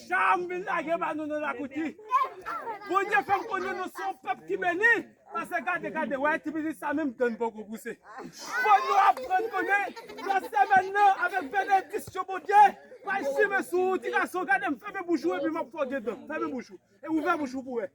Sa a m vin lage ba nou nan lakou di, Bondye fè m konnen nou se yon pèp ki beni, pase gade, gade, wè ti pitit sa menm dan n poko pouse. Fò nou aprann konnen nan semèn nan avèk benediksyon Bondye pral chimen sou ou ti gason, gade m fèmen bouch ou epi m ap fè w gen dan, fèmen bouch ou e ouvè bouch ou pou wè.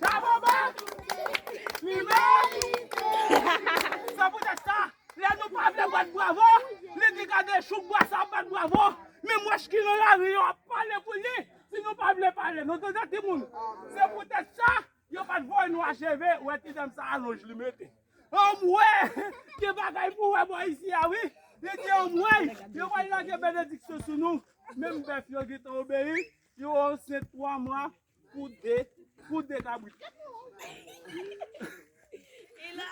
Bravo Bob! Li merite! Se poutèt sa, lè nou pa vle bat bravo, li di gade chouk bwa sa ap bat bravo, menm wèch ki nan lari yo ap pale pou li, si nou pa vle pale. Nou tande timoun? Se poutèt sa, yo pa t voye nou acheve, ou wè ti dam sa alonj li mete. Anmwee! Gen bagay pou wè bò isi a wi! Li di anmwey! Yo pral lage benediksyon sou nou! Menm bèf yo gen tan obeyi, yo ansent 3 mwa, Kou de kabrit.